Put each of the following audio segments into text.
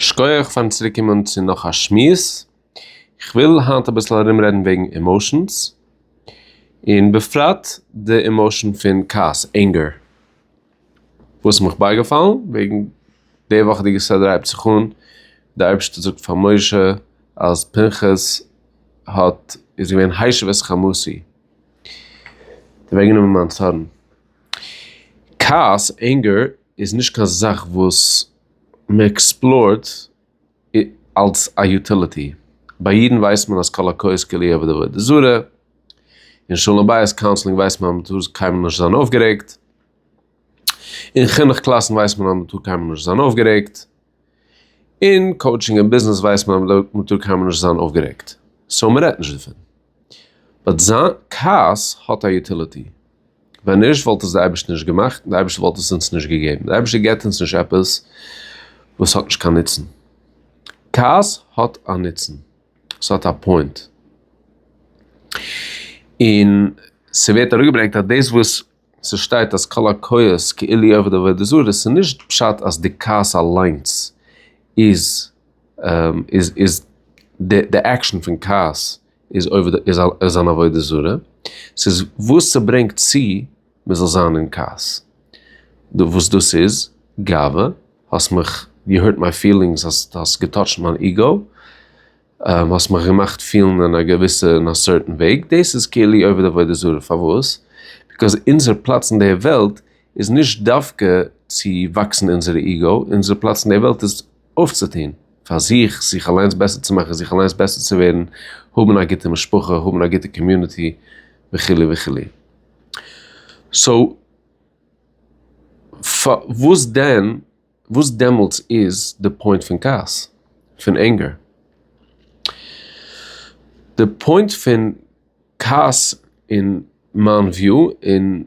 שקויעך פארן צוריק קומען צו נאך א שמועס, כ'וויל היינט אביסל ארום רעדן וועגן עמאושענס, און בפרט די עמאושען פון כעס, ענגער, וואס איז מיך בייגעפאלן וועגן די וואכעדיגע סדר הייבט זיך אן, די אייבערשטער זאגט פאר משה אז פנחס האט איז געווען הישב את חמתי, און אוועקגענומען מיין צארן, כעס, ענגער, איז נישט קיין זאך וואס מען עקספלארט אלס א יוטיליטי. ביי אידן ווייסט מען אז קאלאקויעס כולי עבודה ועבודה זרה און שלום בית קאונסלינג ווייסט מען אז מען טאר קיינמאל נישט זיין אויפגערעגט. און חינוך קלאסן ווייסט מען אז מען טאר קיינמאל נישט זיין אויפגערעגט. אין קאוטשינג און ביזנעס ווייסט מען אז מ'דארט מ'טאר קיינמאל נישט זיין אויפגערעגט, סאו מ'רעדט נישט דערפון. באט זיין כעס האט א יוטיליטי. ווען נישט וואלט עס די אייבערשטער נישט געמאכט און די אייבערשטער וואלט עס אונז נישט געגעבן. די אייבערשטער געבט אונז נישט עפעס וואס האט נישט קיין נוצן. כעס האט א נוצן. ס'האט א פוינט. און ס'ווערט אראפגעברענגט אז דאס וואס ס'שטייט אז כל הכועס כאילו היא עובד עבודה זרה, ס'איז נישט פשט אז די כעס אליינס איז איז איז די די עקשאן פון כעס איז עובד איז איז אן עבודה זרה, ס'איז וואס ס'ברענגט צו מ'זאל זיין אין כעס, וואס דאס איז גאווה, האסט מיך יו הערט מיי פילינגס, האסט געטאטשט מיין איגאו, האסט מיך געמאכט פילן אין א געוויסע אין א סערטען וועג, דאס איז כאילו עובד עבודה זרה, פארוואס? ביזקאוז אונזער פלאץ אין די וועלט איז נישט דווקא צו וואקסן אונזערע איגו, אונזער פלאץ אין די וועלט איז אויפצוטון פאר זיך, זיך אליינס בעסער צו מאכן, זיך אליינס בעסער צו ווערן, האבן א גוטע משפחה, האבן א גוטע קאמיוניטי, וכו' וכו'. סאו פארוואס דען? וואס דעמאלטס איז די פוינט פון כעס? פון ענגער? די פוינט פון כעס אין מיין וויו און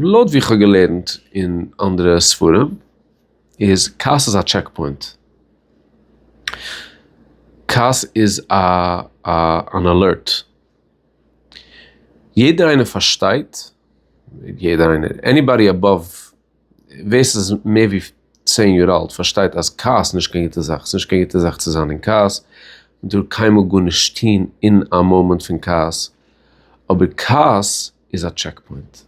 לויט ווי כ'האב געלערנט אין אנדערע ספרים איז כעס איז א טשעק פוינט. כעס איז א א אן אלערט. יעדער איינער פארשטייט, יעדער איינער, עניבאדי עבאוו. ווער ס'איז מער ווי צען יאר אלט פארשטייט אז כעס איז נישט קיין גוטע זאך, ס'איז נישט קיין גוטע זאך צו זיין אין כעס, מ'טאר קיינמאל גארנישט טוהן אין א מאמענט פון כעס, אבער כעס איז א טשעק פוינט,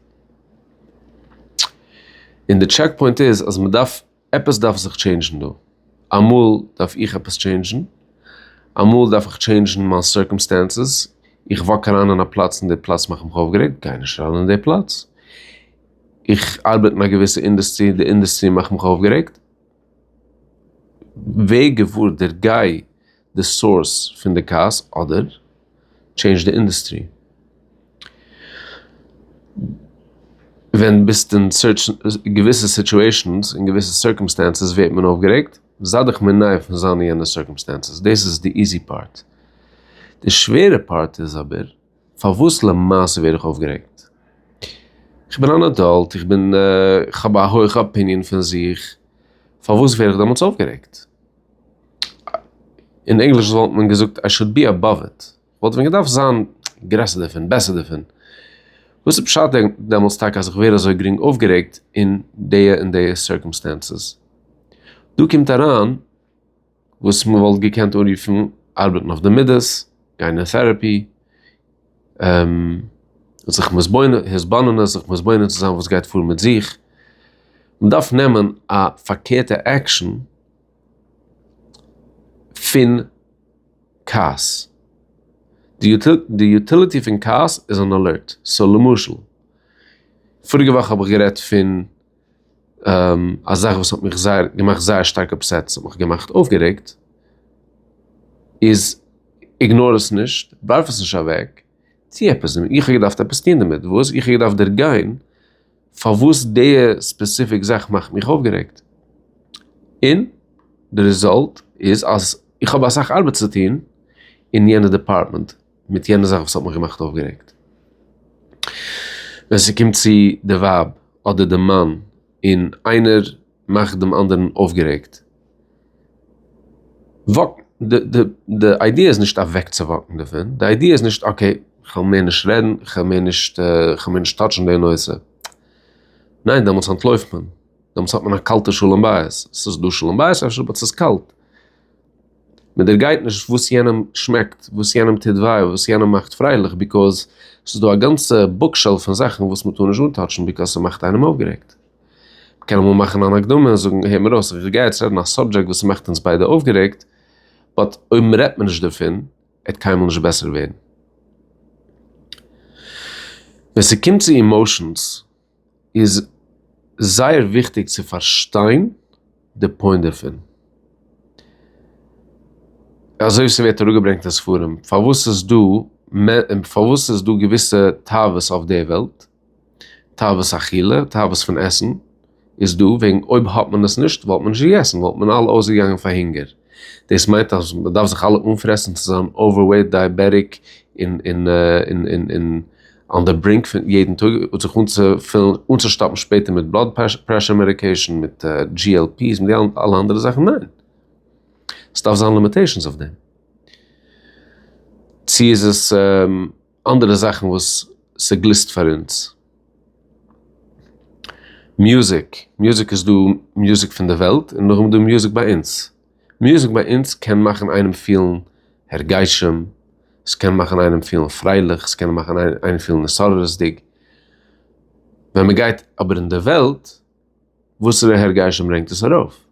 און די טשעק פוינט איז אז מ'דארף, עפעס דארף זיך טשעינדזשן דא, אמאל דארף איך עפעס טשעינדזשן, אמאל דארף איך טשעינדזשן מיין סירקעמסטענסעס, איך וואק אריין אין א פלאץ און די פלאץ מאכט מיך אויפגערעגט, גיי נישט אריין אין די פלאץ. איך ארבעט אין א געוויסע אינדעסטרי, די אינדעסטרי מאכט מיך אויפגערעגט. ווער געוואר דער גיי די סאורס פון די כעס אדער טשעינדזש די אינדעסטרי. ווען ביסט אין געוויסע סיטואשענס אין געוויסע סירקעמסטענסעס ווערט מען אויפגערעגט, זיי דיך מנער פון זיין אין יענע סירקעמסטענסעס, דאס איז די איזי פארט. די שווערע פארט איז אבער. פארוואס למעשה ווער איך אויפגערעגט? איך בין אן עדאלט, איך בין, איך האב א הויכע אפיניען פון זיך, פארוואס ווער איך דעמאלטס אויפגערעגט? אין ענגליש וואלט מען געזאגט איי שאד בי עבאוו איט, כ'וואלט ווען געדארפט זיין גרעסער דערפון, בעסער דערפון. וואס איז פשט דעמאלטס טאקע אז איך ווער אזוי גרינג אויפגערעגט אין די און די סירקעמסטענסעס? דא קומט אריין. וואס מ'וואלט געקענט אנרופן ארבעטן אויף די מידות, גיין אין טערעפי, זיך התבוננות, זיך מתבונן צו זיין וואס גייט פאר מיט זיך, מ'דארף נעמען א פארקערטע עקשאן פון כעס. די יוטיליטי פון כעס איז אן אלערט, סאו למשל, פאריגע וואך האב איך גערעדט פון. א זאך וואס האט מיך זייער געמאכט זייער שטארק אפסעט, ס'האט מיך געמאכט אויפגערעגט, איז איגנאר עס נישט, ווארף עס נישט אוועק, טוה עפעס דערמיט, איך האב געדארפט עפעס טון דערמיט, וואס? איך האב געדארפט דערגיין פארוואס די ספעסיפיק זאך מאכט מיך אויפגערעגט, און די רעזולט איז אז איך האב אסאך ארבעט צו טון אין יענע דעפארטמענט. מיט יענע זאך וואס האט מיך געמאכט אויפגערעגט ווען ס'קומט צו די ווייב אדער די מאן און איינער מאכט דעם אנדערן אויפגערעגט וואק די די די איידיע איז נישט אוועקצואוואקן דערפון די איידיע איז נישט אקעי כ'וועל מער נישט רעדן כ'וועל מער נישט כ'וועל מער נישט טאטשן די נושא ניין דעמאלטס אנטלויפט מען דעמאלטס האט מען א קאלטע שלום בית ס'איז דא שלום בית אפשר באט ס'איז קאלט. מען דערגייט נישט וואס יענעם שמעקט, וואס יענעם טוט וויי, וואס יענעם מאכט פרייליך, ביזקאז ס'איז דא א גאנצע בוקשעלף פון זאכן וואס מען טאר נישט אנטאטשן ביזקאז ס'מאכט איינעם אויפגערעגט. מען קען אמאל מאכן אן הקדמה און זאגן, הער מיר אויס, איך גיי יעצט רעדן א סאבדזשעקט וואס ס'מאכט אונז ביידע אויפגערעגט, באט אויב מען רעדט מער נישט דערפון, עט קיינמאל נישט בעסער ווערן. ווען ס'קומט צו אימאושענס. איז זייער וויכטיג צו פארשטיין די פוינט דערפון, אזוי ווי ס'ווערט אראפגעברענגט אין ספרים, פארוואס איז דא פארוואס איז דא געוויסע תאוות אויף די וועלט, תאוות אכילה, תאוות פון עסן, איז דא וועגן אויב האט מען עס נישט וואלט מען נישט געגעסן, וואלט מען אלע אויסגעגאנגען פאר הונגער, דאס מיינט אז מען דארף זיך אלע אנפרעסן צו זיין אווערוועיט, דייעבעטיק, און. אן די ברינק פון יעדן טאג האט זיך אנצופילן אנצושטאפן שפעטער מיט בלאד פרעשור מעדיקעישן מיט GLP's מיט די אלע אנדערע זאכן ניין עס דארף זיין לימיטעישנס אויף דעם צו איז עס אנדערע זאכן וואס ס'גליסט פאר אונז מוזיק מוזיק איז דא מוזיק פון די וועלט און נאכדעם איז דא מוזיק ביי אונז. מוזיק ביי אונז קען מאכן איינעם פילן הרגשים, ס'קען מאכן איינעם פילן פרייליך, ס'קען מאכן איינעם פילן התעוררות'דיג, ווען מ'גייט אבער אין די וועלט, וואסערע הרגשים ברענגט עס ארויף?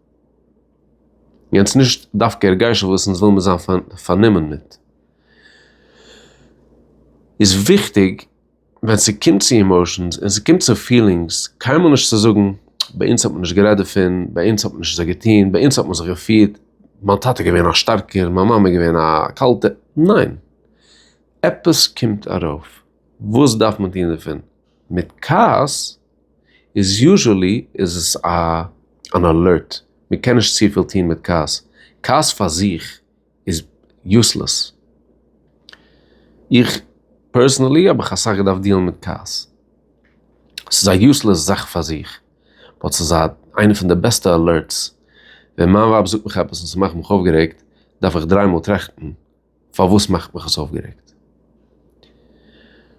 יענץ נישט דווקא הרגשים וואס אונז וויל מיר זיין פארנומען מיט. איז וויכטיג ווען ס'קומט צו אימאשענס און ס'קומט צו פילינגס, קיינמאל נישט צו זאגן, ביי אונז האט מען נישט גערעדט דערפון, ביי אונז האט מען נישט אזוי געטון, ביי אונז האט מען זיך געפירט, מיין טאטע איז געווען א שטארקער, מיין מאמע איז געווען א קאלטע, ניין! עפעס קומט ארויף, וואס דארף מען טון דערפון? מיט כעס איז יוזשעלי איז עס א אן אלערט, מ'קען נישט צופיל טון מיט כעס, כעס פאר זיך איז יוסלעס. איך פערסענעלי האב איך אסאך געדארפט דיעלן מיט קארס. ס'איז א יוסלעס זאך פאר זיך, באט ס'איז א איינע פון די בעסטע אלערטס. ווען מיין ווייב זאגט מיך עפעס און ס'מאכט מיך אויפגערעגט, דארף איך דריי מאל טראכטן פארוואס מאכט מיך עס אויפגערעגט.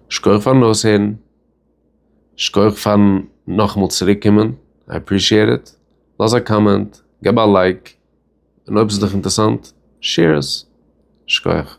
שכח פארן אויסהערן. שכח פארן נאכאמאל צוריקקומען. איי עפרישיעט איט. לאז א קאמענט. געב א לייק. און אויב ס'איז דיך אינטערסאנט שעיר עס. שכוח.